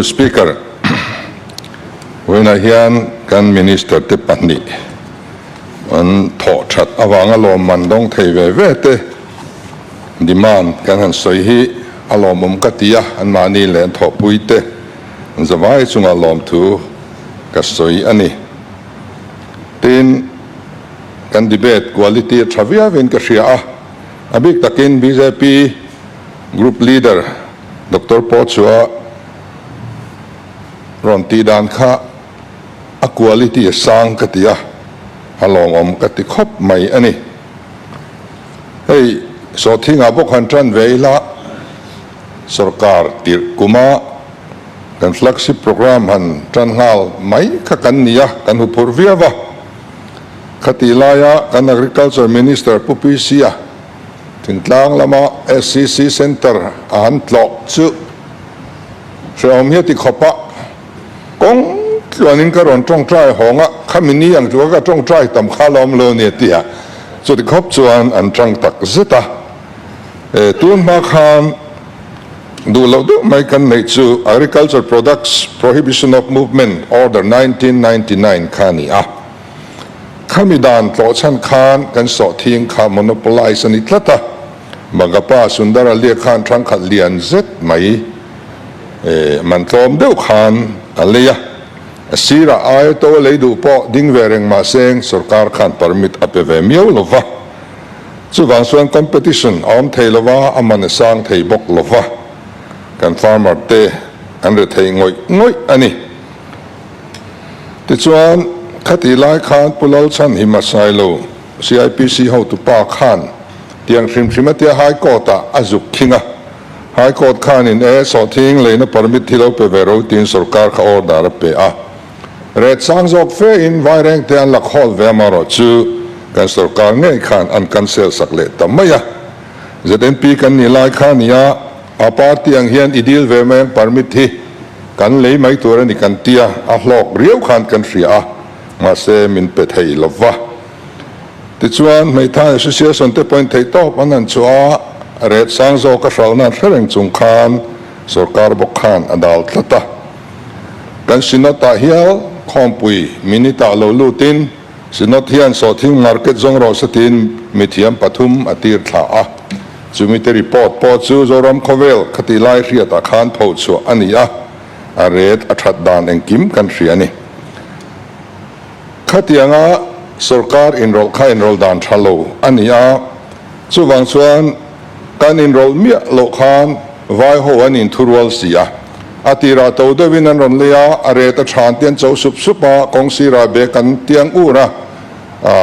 Speaker, Vawiinah hian kan Minister te pahnih an thawhthat avanga lawmman dawng thei ve ve te demand kan han sawi hi a lawmawm ka ti a, anmahni leh an thawhpui te zavai chunga lawmthu ka sawi a ni. Tin, kan debate quality a tha viau in ka hria a, a bik takin bjp Group Leader, Doctor pawh chu a rawn tih dan kha a quality a sang ka ti a, a lawngawm ka ti khawp mai a ni. Hei Sawhthingah bawk han tan ve ila, sorkar tirh kuma kan flagship programme han tan nghal mai kha kan ni a, kan hu phur viau a. Khati laia kan Agriculture Minister Pu Pi Sia Thintlang lama SCC Centre a han tlawh chu Hreawm hi a ti khawp a, Kawng tluanin ka rawn tawngtai hawng a, khami ni ang tlua ka tawngtai tam kha lo awm lo nia tia chuti khawp chuan an tang tak zet a. E, tunhma khan duh loh deuh mai kan neih chu Agriculture Products Prohibition of Movement Order nineteen ninety nine kha a ni a. Khami dan tlawh chhan khan kan sawhthing kha monopolise a ni tlat a, Bangapa Sundar a leh khan thangkhat lian zet mai man tlawm deuh khan a lei a, a sirah aiawhto a lei duh pawh ding ve reng mah seng sorkar khan permit a pe ve miau lo va, chuvang chuan competition a awm thei lo va, a man a sang thei bawk lo va, kan farmer te an re thei ngawih ngawih a ni. Tichuan, khati lai khan Pu Lalchhan hi hmasai lo CIPC hotu pa khan tiang hrim hrim a tia High Court ah a zuk khing a. High Court khanin e sawhthing leina permit hi lo pe ve ro tiin sorkar kha order a pe a. Ret sang zawk fe in vaireng te an lak hawl ve amarawh chu kan sorkar ngei khan an cancel sak leh ta mai a. ZNP kan nih lai kha nia, a party ang hian i deal ve mai ang permit hi. Kan lei mai tur a ni kan tia a hlawk riau khan kan hria a, mahse min pe thei lo va. Tichuan Hmeithai Association te pawhin theihtawp an han chhuah a, ret sang zawk a hralhna an hre reng chung khan sorkar bawk khan a dal tlat a. Kan Synod-ah hial khawmpui minute-ah lo lutin Synod hian sawhthil ngar ket zawng rawh se tiin mithiam pathum a tir thlah a, chumite report pawh chu Zoram khawvel kha tih lai hriatah khan pho chhuah a ni a, a ret a that dan engkim kan hria a ni. Khatianga sorkar inrawlh kha inrawlh dan tha lo a ni a, chuvang chuan kan inrawlh miah loh khan vaiho an inthurual si a. A ti rah to deuhin an rawn lei a, a ret a ṭhan te an cho sup sup a, kawng sirah bag an tiang ur a.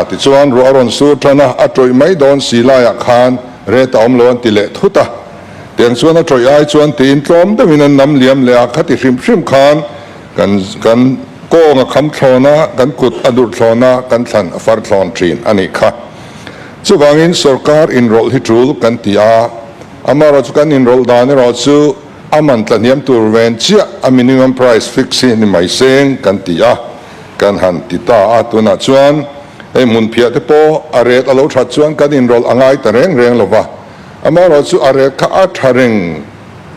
Tichuan ruah a rawn sur ṭhan a, a ṭawih mai dawn si laiah khan ret a awm lo an ti leh thut a. Tiang chuan a ṭawih ai chuan tiin tlawm deuhin an nam liam leh a, khati hrim hrim khan kan kan kawng a kham thlawn a, kan kut a durh thlawn a, kan thlan a far thlawn ṭhin a nih kha. Chuvangin sorkar inrawlh hi ṭul kan ti a, amaherawhchu kan inrawlh dan erawh chu, A man tlahniam tur ven chiah a minimum price fix hi ni mai seng kan ti a, kan han ti ta a, tunah chuan hei hmun phiah te pawh a rate a lo that chuan kan inrawlh a ngai ta reng reng lo va, amaherawh chu a rate kha a tha reng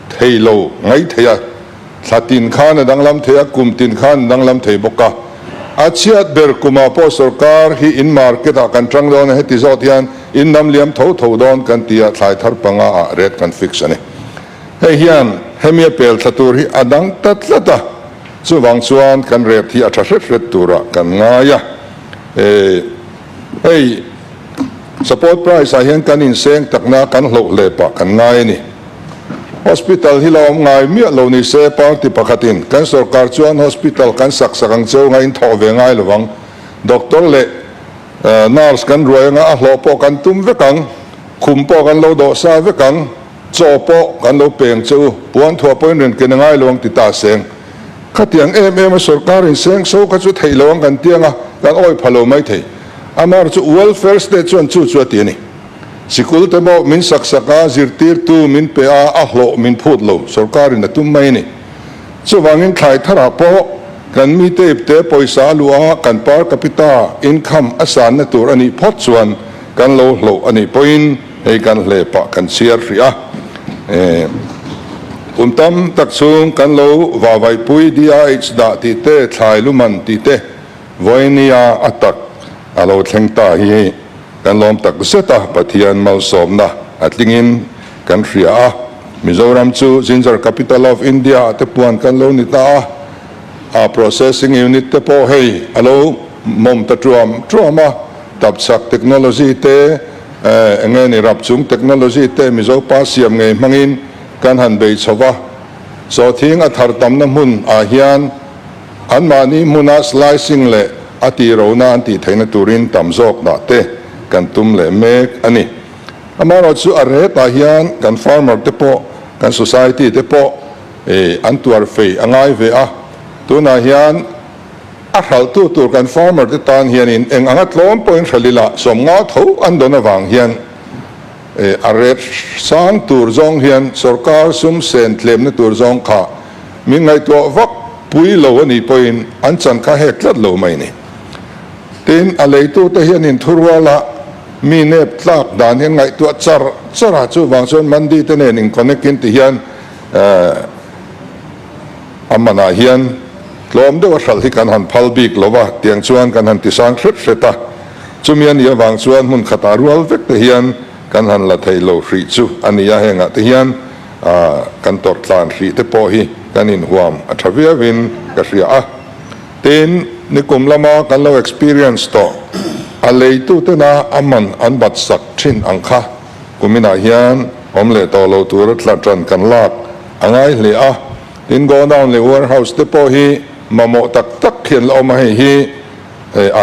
thei lo ngai thei a, thla tin khan a danglam thei a, kum tin khan a danglam thei bawk a, a chhiat ber kumah pawh sorkar hi in market ah kan tang dawn a heti zawk hian in namliam tho tho dawn kan ti a, thlai thar panga ah rate kan fix a ni. Hei hian hemi a pel thla tur hi a dang ta tlat a, chuvang chuan kan rep hi a tha hret hret turah kan ngai a. Eii hei support price ah hian kan inseng takna a kan hloh hle pah kan ngai a ni. Hospital hi lo awm ngai miah lo ni se party pakhatin kan sorkar chuan hospital kan sak sak ang cheu nga inthawh ve ngai lovang, doctor leh nurse kan ruai anga a hlawh pawh kan tum vek ang. Khum pawh kan lo dawh sa vek ang, chaw pawh kan lo peng che u, puan thuah pawhin rian ken a ngai lo ang ti ta seng. Khatiang em em a sorkar inseng so kha chu theih lo ang kan ti anga kan awih pha lo mai thei. Amar chu welfare state chuan chu chu a ti a ni. Sikul te pawh min sak sak a, zirtirtu min pe a, a hlawh min phut lo, sorkarin a tum mai a ni. Chuvangin thlai tharah pawh kan mite ipte pawisa a luh a, kan per capita income a sanna tur a nih phawt chuan, Kan lo hlauh a nih pawhin hei kan hle pah kan chhiar hrih a, kum tam tak chung kan lo vavaipui DIH dah tih te, thlai lu man tih te, vawini-a a tak a lo thleng ta hi kan lawm tak zet a, Pathian malsawmna a tlingin kan hria a, Mizoram chu Ginger Capital of India-a te puan kan lo ni ta a. a processing unit te pawh hei a lo mawm ta ṭuam ṭuam a, tapchhak technology te eh eng nge ni rapchung technology te Mizo pa siam ngei hmangin kan han bei chho va, chawthing a thar tamna hmun ah hian anmahni hmuna slicing leh a tihrona an tih theihna turin tam zawk dah te kan tum leh mek a ni. Amaherawhchu a retah hian kan farmer te pawh kan society te pawh e an tuar fei a ngai ve a, tunah hian a hralhtu tur kan farmer te tan hianin eng anga tlawm pawhin hral ila sawm ngau tho an dawn avang hian e a ret sang tur zawng hian sorkar sum sen tlemna tur zawng kha min ngaihtuah vak pui lo anih pawhin an chan kha hek tlat lo mai ni. Tin a leitu te hianin thuruala mi nep tlak dan hian ngaihtuah char char a chuvang chuan Mandi te nen in connect in tihian Ehh, a manah hian tlawm deuha hral hi kan han phal bik lo va tiang chuan kan han tisang hret hret a, chumi a nih avang chuan hmun khatah rual vek te hian kan han la thei lo hrih chu a ni a, hengah te hian ahh kan tawrh tlan hrih te pawh hi kan inhuam a tha viau in ka hria a, tin nikum lama kan lo experience tawh a lei tu tena a man an bat sak thin ang kha. kuminah hian awm leh tawh lo tura tla tan kan lak a ngai hle a, tin godown leh warehouse te pawh hi mamawh tak tak hian la awm a, hei hi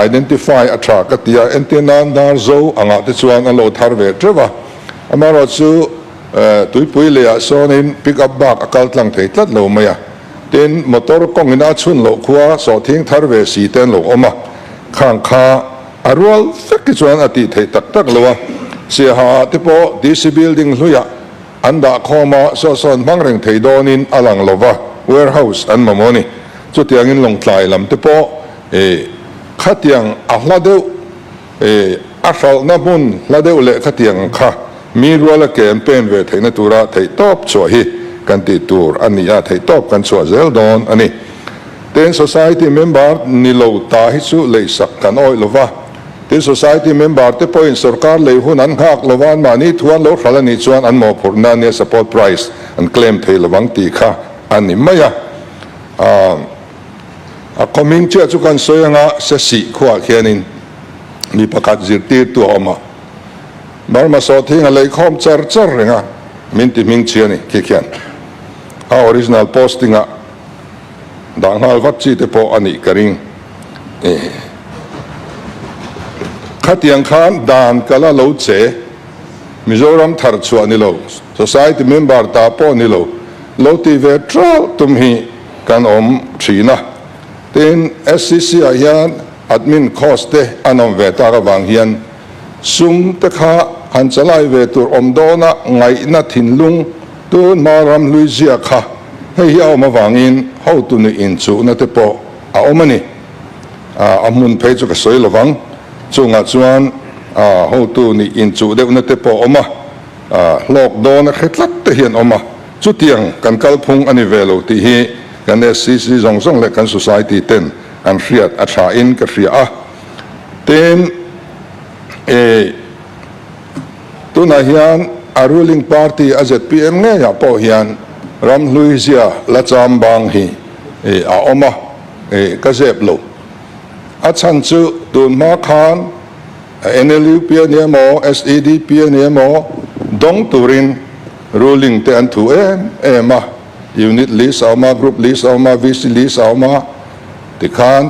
identify a tha ka tia entir nan dar zo angah te chuan an lo thar ve teuh a, amaherawh chu tuipui leh ah sawnin pick up bak a kal tlang thei tlat lo mai a, tin motor kawngin a chhun loh khua sawhthing thar ve si te an lo awm a khang kha. A rual vek hi chuan a tih theih tak tak lo a, Siahaa te pawh DC Building hluiah an dah khawm a, saw sawn hmang reng thei dawnin a lang lo va, warehouse an mamawh a ni. Chutiangin Lawngtlai lam te pawh eh khatiang a hla deuh eh a hralhna hmun hla deuh leh khatiang kha mi rual a ke an pen ve theihna tura theihtawp chhuah hi kan tih tur a ni a, theihtawp kan chhuah zel dawn a ni. Tin, Society member ni lo ta hi chu leihsak kan awih lo va, tin, Society member te pawhin sorkar lei hun an nghak lo va, an mahni thu an lo hral a nih chuan an mawhphurhna ania support price an claim thei lo vang tih kha a ni mai a. A kawmin chiah chu kan sawi anga se sih khuah khianin mi pakhat zirtirtu a awm a, Burma sawt hi a ngahlei khawm char char reng a, min ti hming chhi a ni khi khian a original posting ah. dah nghal vat chi te pawh a nih ka ring e. Khatiang khan dan ka la lo che, Mizoram thar chhuah ni lo, society member ta pawh ni lo, lo ti ve trauh tum hi kan awm thin a. Tin, SCC ah hian admin course te an awm ve tak avang hian Sum te kha han chalai ve tur awm dawn a ngaihna thinlung tunhma ram hlui ziak kha hei hi a awm avangin hotu nuih inchuhna te pawh a awm a ni. A hmun phei chu ka sawi lo vang, chungah chuan hotu nuih inchuh deuhna te pawh awm a, hlawk dawn a khe tlat te hi an awm a, chutiang kan kalphung a ni ve lo tih hi kan SCC zawng zawng leh kan Society ten an hriat a thain ka hria a. Tin, e, tunah hian a ruling party a zpm ngeiah pawh hian ramhluizia la cham bang hi e, a awm a, e, ka zep lo. A chhan chu tun hma khan NLUP a nia maw, SEDP a nia maw, dawng turin ruling te an thu em em a, unit list a awm a, group list a awm a, VC list a awm a, tikhan,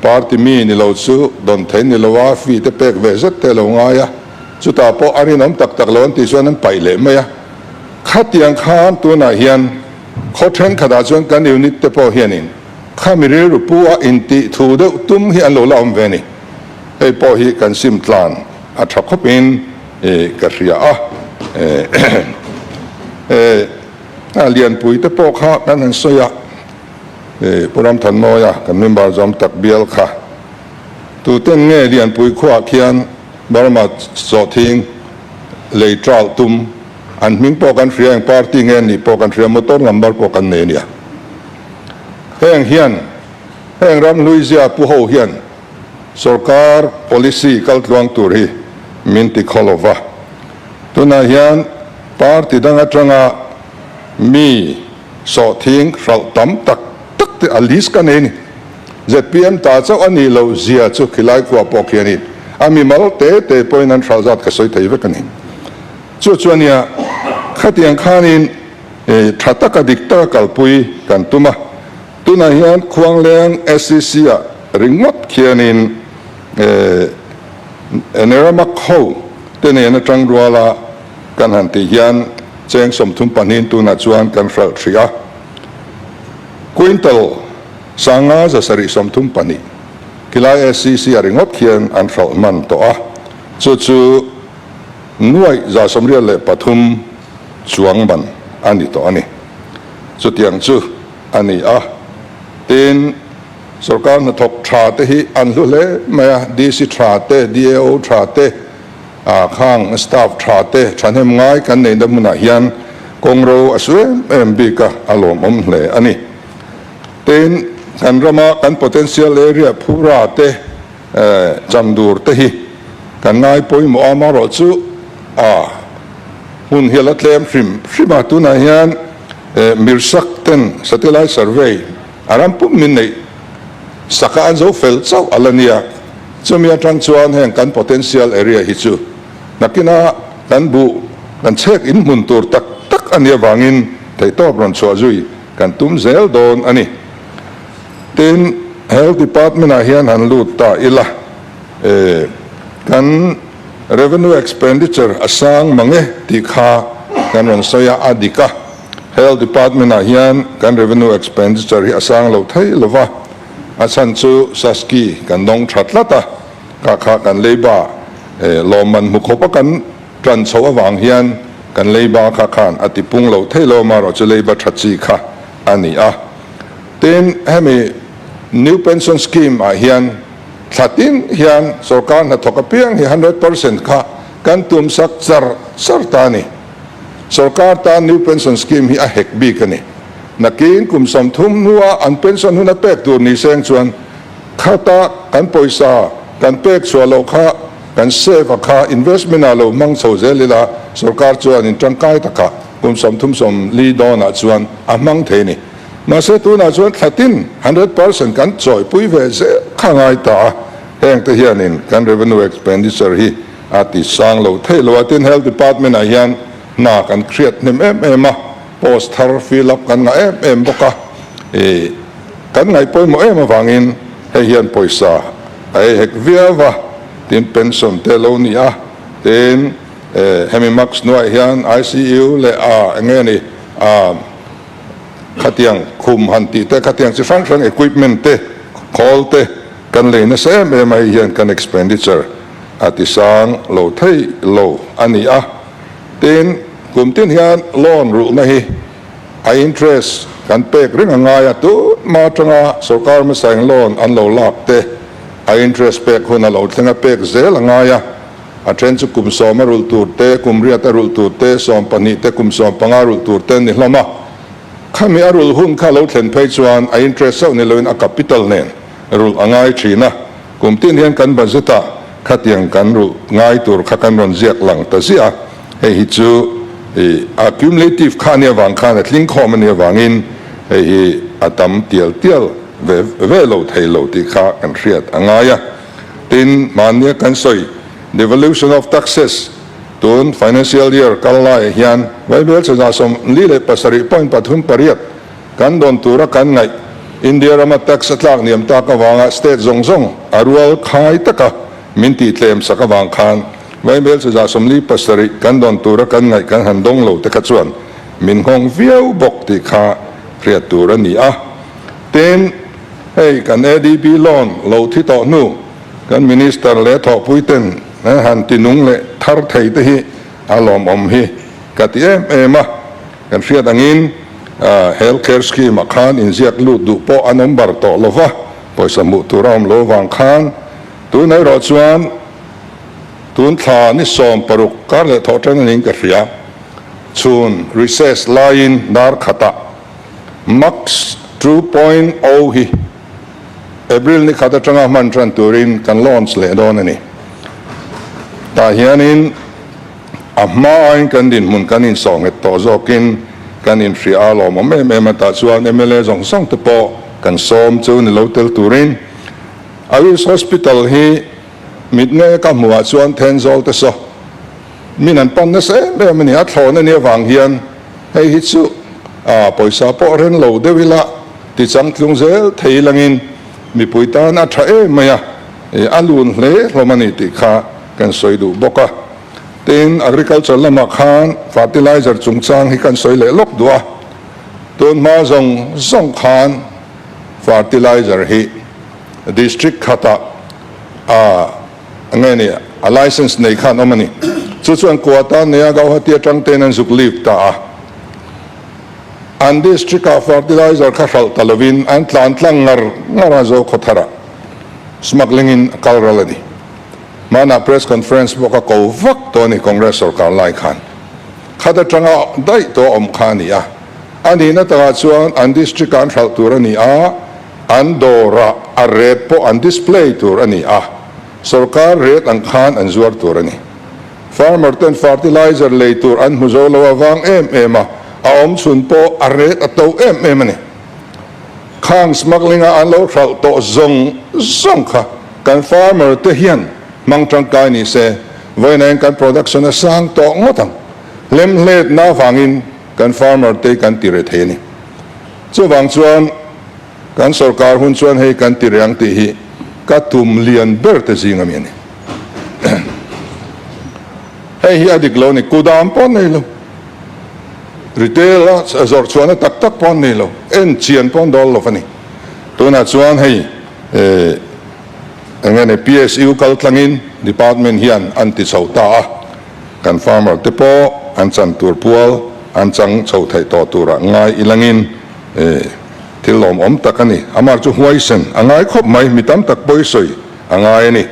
Party mi ni lo chu dawn theih ni lo a, fee te pek ve zet te a lo ngai a, chutah pawh a rinawm tak tak lo an tih chuan an paih leh mai a. Khatiang khan tunah hian khaw thenkhatah chuan kan unit te pawh hianin khami rilru pu a intih thu deuh tum hi an lo la awm ve a ni. Hei pawh hi kan sim tlan a tha khawpin ka hria a. Lianpui te pawh kha kan han sawi a. Pu Ramthanawia kan member zawm tak bial kha tuten nge Lianpui khuaah khian Burma chawhthing lei tral tum an hming pawh kan hria eng party nge an nih pawh kan hria motor number pawh kan nei nia heng hian heng ramhluizia pu ho hian sorkar policy kal tluang tur hi min ti khaw lo va tunah hian party dang atanga mi Sawhthing hralh tam tak tak te a list ka nei a ni. Zpm ta chauh a nih loh zia chu khilai khua pawh khi a ni. A mimal te te pawhin an hralh zat ka sawi thei vek a ni. Chu chu a nia, khatiang khanin tha taka dik taka kalpui kan tum a. Tunah hian Khuangleng SCC-a ringawt khianin Neramak ho te nen atang rual a, Kan han tih hian cheng sawmthum pahnihin tunah chuan kan hralh hrih a, Quintal sanga za sarih sawmthum pahnih khi lai SCC a ringawt khian an hralh hman tawh a, chu chu nuaih za sawm rial leh pathum chuang man a ni tawh a ni. Chutiang chu a ni a, tin, sawrkar hnathawk tha te hi an hlu hle mai a, DC tha te, DAO tha te, Aa khang staff tha te thahnem ngai kan neihna hmunah hian kawng ro a su em em bik a a lawmawm hle a ni. Tiin kan rama kan potential area phura te cham dûr te hi kan ngai pawimawh a marawh chu a hmun hi a la tlem hrim hrim a tunah hian mirsak ten satellite survey, A ram pum min neih sak a an zo fel chauh a la nia. Chumi atang chuan heng kan potential area hi chu nakina kan buh kan chhek in hmun tur tak tak a ni avangin theihtawp rawn chhuah zui kan tum zel dawn a ni. Tin, Health Department ah hian han lut ta ila e, kan Revenue Expenditure a sang mang e tih kha kan rawn sawi a, a dik a. Health Department-ah hian kan Revenue Expenditure hi a sang lo thei lo va, a chhan chu Sasky kan dawng tha tlat a, kah kha kan leiba lawmman hmu khawpa kan tan chhoh avang hian kan leiba kha khan a tipung lo thei lo a, marawh chu leiba tha chi kha a ni a. Tin, hemi New Pension Scheme-ah hian thla tin hian sorkar hnathawk apiang hi hundred percent kha kan tumsak char char ta a ni. Sorkar tan New Pension Scheme hi a hek bik a ni. Nakin kum sawmthum hnua an pension hun a pek tur ni seng chuan khata kan pawisa kan pek chhuah loh kha, kan save a kha investment ah lo hmang chho zel ila sorkar chuanin tangkai takah kum sawmthum sawmli dawnah chuan a hmang thei a ni. Mahse tunah chuan thlatin hundred percent kan chawihpui ve zel kha a ngai ta a, hengte hianin kan revenue expenditure hi, a ti sang lo theih lo a. Tin, Health Department-ah hian hna kan hriat hnem em em a, post thar fill up kan ngah em em bawk a. Ih, kan ngaih pawimawh em avangin hei hian pawisa a ei hek viau va, tin pension te lo ni a. Tin, eh, hemi March hnuaih hian ICU leh a eng nge ni a khatiang khum han tih te, khatiang chi hrang hrang equipment te, khawl te kan lei nasa em em a, hei hian kan expenditure a ti sang lo theih lo a ni a, tin, kum tin hian loan ruhna hi a interest kan pek ring a ngai a, tunhma atanga sorkar hmasain loan an lo lak te a interest pek hun a lo thleng a, pek zel a ngai a, a then chu kum sawm a rul tur te, kum riat a rul tur te, sawm pahnih te, kum sawm panga rul tur te an ni hlawm a, khami a rul hun kha a lo thlen phei chuan a interest chauh ni loin a capital nen rulh a ngai thin a. Kum tin hian kan budget a khatiang kan ruh ngai tur kha kan rawn ziak lang ta ziah a, hei hi chu a cumulative kha ania vang khan a tling khawm ania vangin hei hi a tam tial tial ve ve lo thei lo tih kha kan hriat a ngai a. Tin, mahnia kan sawi devolution of taxes tun financial year kal laiah hian vaibel chhazah sawm li leh pasarih point pathum pariat, Kan dawn tura kan ngaih. India rama tax a tlak niam tak avanga state zawng zawng a rual khai tak a, min tih tlem sak avang khan Vai Hmelchazah sawmli pasarih kan dawn tura kan ngaih kan han dawng lo te kha chuan min nghawng viau bawk tih kha hriat tur a ni a. Tin, hei kan ADB lawn lo thi tawh hnu kan Minister leh thawhpui ten han ti nung leh thar thei te hi a lawmawm hi ka ti em em a. Kan hriat angin Health Care Scheme ah khan inziak lut duh pawh an awm bar tawh lo va, pawisa hmuh tur a awm lo vang khan tun erawh chuan tun thla ni sawm paruk kar leh thawh ṭan anin ka hria. Chhun recess laiin darkhatah Max two point o hi April ni khat aṭanga hman ṭan turin kan launch leh dawn a ni. Tah hianin. A hmain kan dinhmun kan insawhnghet tawh zawkin kan inhria a lawmawm em em a, tah chuan mla zawng zawng te pawh kan sawm chu ni lo tel turin Aris Hospital hi mitnge ka hmu ah chuan then zawl te saw min an pan nasa em em a ni, a thlawn a nia vang hian hei hi chu ah pawisa pawh reng lo deuh ila tichang tlung zel thei langin mipui tan a tha em mai a, a lun hle hlawm a ni tih kha. Kan sawi duh bawk a, tin agriculture lamah khan fertilizer chungchang hi kan sawi leh lawk duh a, tunhma zawng zawng khan fertilizer hi district khatah ah nge ni a licence nei khan awm a ni, chu chuan Kuata, Nea, Gauhatia tang te'n an zuk lip ta a, an district ah fertilizer kha hralh ta lovin an tlan tlang ngar ngar a Zokhawthar ah smuggling in a kal ral a ni. hmanah press conference bawk a ko vak tawh a ni Congress sawrkar lai khan khat atanga daih tawh a awm kha a ni a, a nihna takah chuan an district ah an hralh tur a ni a, an dawrah a rate pawh an display tur a ni a, sawrkar rate ang khan an zuar tur a ni. Farmer ten fertilizer lei tur an hmu zo lo a vang em em a, a awm chhun pawh a rate a to em em a ni. Khang smuggling a an lo hralh tawh zawng zawng kha. Kan farmer te hian hmang tangkai ni se, vawiinain kan production a sang tawh ngawt ang. Lem hletna avangin kan farmer te kan ti reh thei a ni. Chuvang chuan kan sawrkar hun chuan hei kan ti reh ang tih hi ka tum lian ber te zing a mi a ni. Hei hi a dik lo a ni, kudam pawh nei lo, retail a zawrhchhuahna tak tak pawh nei lo, enchian pawh dawl lo va ni. Tunah chuan hei. Eh, enge ni? PSU kal tlangin department hian an ti chhoh ta a, kan farmer te pawh an chan tur pual an chang chhoh theih tawh turah ngai i langin eh, thil lawm awm tak a ni. Amar chu huaisen a ngai khawp mai, mi tam tak pawi sawi a ngai a ni.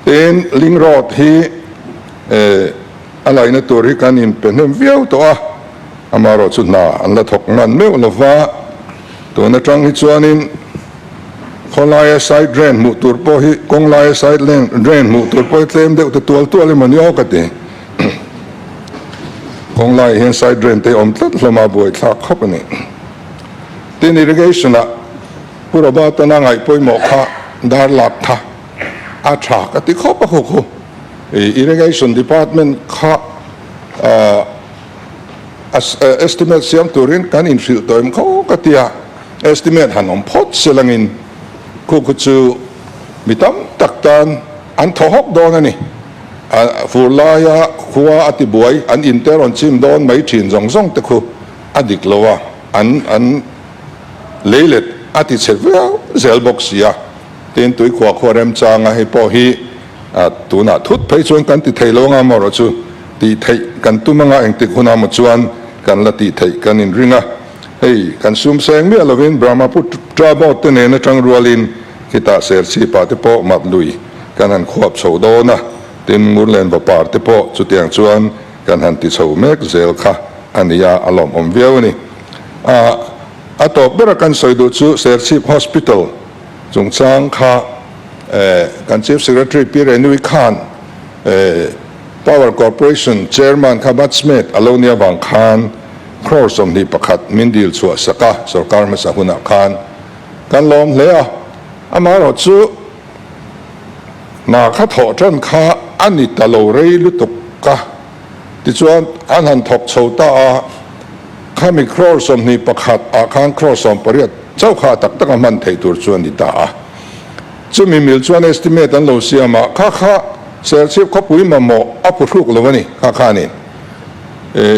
Tin, Ling Road hi eh, a laina tur hi kan inpe hnem viau tawh a, Amarawh chu hna an la thawk ngan meuh lova. Tun atang hi chuanin khawlaia side drain hmuh tur pawh hi kawnglaia side leng drain hmuh tur pawh hi tlem deuh te tual tual emaw ni aw ka ti. Kawnglaia hian side drain te awm tlat hlawma buai thlak khawp a ni. Tin irrigation-a Pu Roberton-a ngaih pawimawh kha dar lak tha a tha ka ti khawp a khu khu. Irrigation department kha ahh. Estimate siam turin kan inhrilh tawim kho ka ti a, estimate han awm phawt sil angin khukhu chu mi tam tak tan an thaw hawk dawn a ni. Fur laia khua a tibuai an in te rawn chim dawn mai thin zawng zawng te khu a dik lo a, an an lei let a ti chhe viau zel bawk sia. Tin tuikhuah khuarem changa hi pawh hi. ah tunah thut phei chuan kan ti thei lo anga Maura chu tih theih kan tum anga engtik hun ah maw chuan kan la tih theih kan in ring a, hei kan sum sa eng miah lovin Brahmaputra boat te nen atang rualin khitah serchhipa te pawh map lui kan han khuap chho dawn a, tin Ngurlenva par te pawh chutiang chuan kan han ti chho mek zel kha a nia a lawmawm viau a ni. Ah a tawp bera kan sawi duh chu Serchhip Hospital. Chungchang kha kan Chief Secretary Pi Renui khan Power Corporation Chairman kha Batchmate a lo nia vang khan crore sawmhnih pakhat min dil chhuah sak a, sorkar hmasa hunah khan kan lawm hle a. Amaherawh chu hna kha thawh tan kha a ni ta lo rei lutuk a. Tichuan, an han thawk chho ta a, khami crore sawmhnih pakhat ah khan crore sawm pariat chauh kha a tak tak a hman theih tur chu a ni ta a. Chumi mil chuan estimate an lo siam a, kha kha serchhip khawpui mamawh a pu hruk lo a ni, kha khan in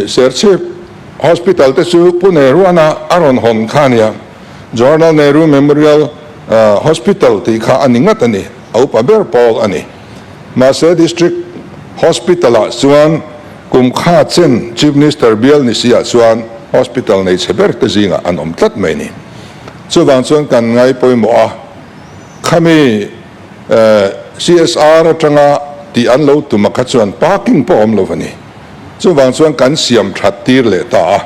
serchhip hospital te chu Pu Nehruana a rawn hawn kha a nia, Jawaharlal Nehru Memorial Hospital tih kha a ni ngat a ni, a upa ber pawl a ni. Mahse District Hospital-ah chuan kum kha chen Chief Minister bial ni si ah chuan Hospital nei chhe ber te zingah an awm tlat mai ni. Chuvang chuan kan ngai pawimawh a, khami CSR atanga tih an lo tum a kha chuan parking pawh a awm lo a ni. Chuvang chuan kan siam that tir leh ta a,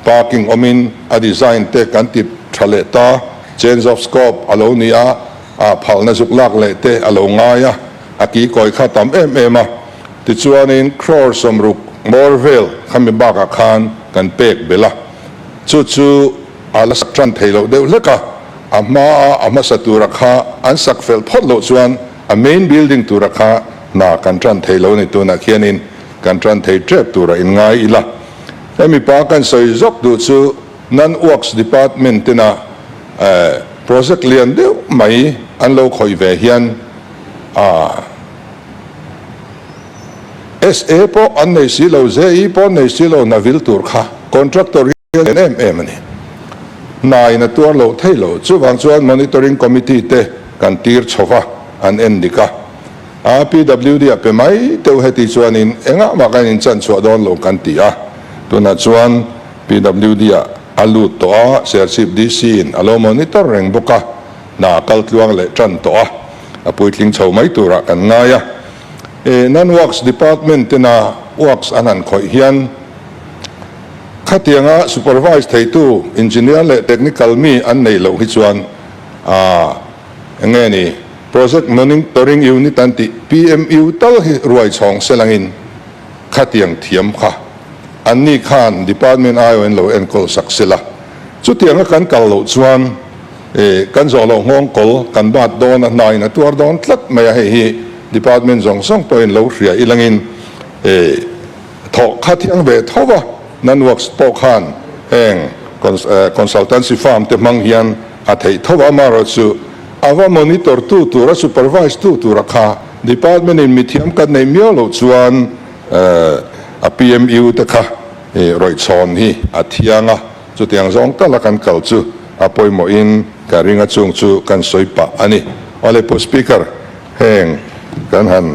parking awmin a design te kan ti tha leh ta, change of scope a lo ni a, ah phalna zuk lak leh te a lo ngai a, a ki kawi kha tam em em a. Tichuanin Crore sawmruk ngawr vel kha mi bakah khan kan pek belh a, chu chu a la sak tan thei loh deuh hlek a, a hma a a hmasa tura kha an sak fel phawt loh chuan a main building tura kha hna kan tan thei lo ni tunah khianin kan tan thei tep tura in ngai ila. Hemi pa kan sawi zawk duh chu. Nan Works Department tena project lian deuh mai an lo khawih ve hian SA pawh an nei si lo, JE pawh an nei si lo hna vil tur kha Contractor hian a en em em a ni. Hnain a tuar loh thei lo. Chuvang chuan Monitoring Committee te kan tir chho va, an en dik a. A PWD a pe mai teuh heti chuanin engah mah kan in chanchhuah dawn lo kan ti a, tunah chuan. PWD-a a lut tawh a, Serchhip DC-in a lo monitor reng bawk a, hna a kal tluang leh tan tawh a, a puitling chho mai turah kan ngai a. Eh, nan Works Department tena Works an han khawih hian khatianga Supervise theitu Engineer leh Technical mi an nei loh hi chuan aah eng nge ni, Project Monitoring Unit an tih PMU tal hi ruaichhawng sel angin, khatiang thiam kha an ni khan department aiawh in lo enkawl sak se la, chutiang a kan kal loh chuan eh kan zawh loh nghawng kawl kan bat dawn a hna in a tuar dawn tlat mai a hei hi department zawng zawng pawh in lo hria i lang in eh thawh khathiang ve tho va nan works pawh khan heng consultancy firm te hmang hian a theih tho va amarawh chu ava monitor tu tura supervise tu tura kha Department in mithiam kan nei miau lo chuan a PMU te kha rawih chhawn hi a thiang a, chutiang zawng tala kan kal chu a pawimawh in kan ring a chung chu kan sawi pah a ni. Awle pu Speaker, heng kan han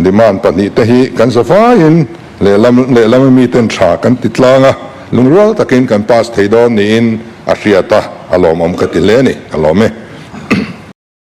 demand pahnih te hi kan za vai in lehlam lehlama mi ten tha kan ti tlang a, lungrual tak in kan pass thei dawn niin a hriat a, a lawmawm ka ti hle a ni, a lawm e.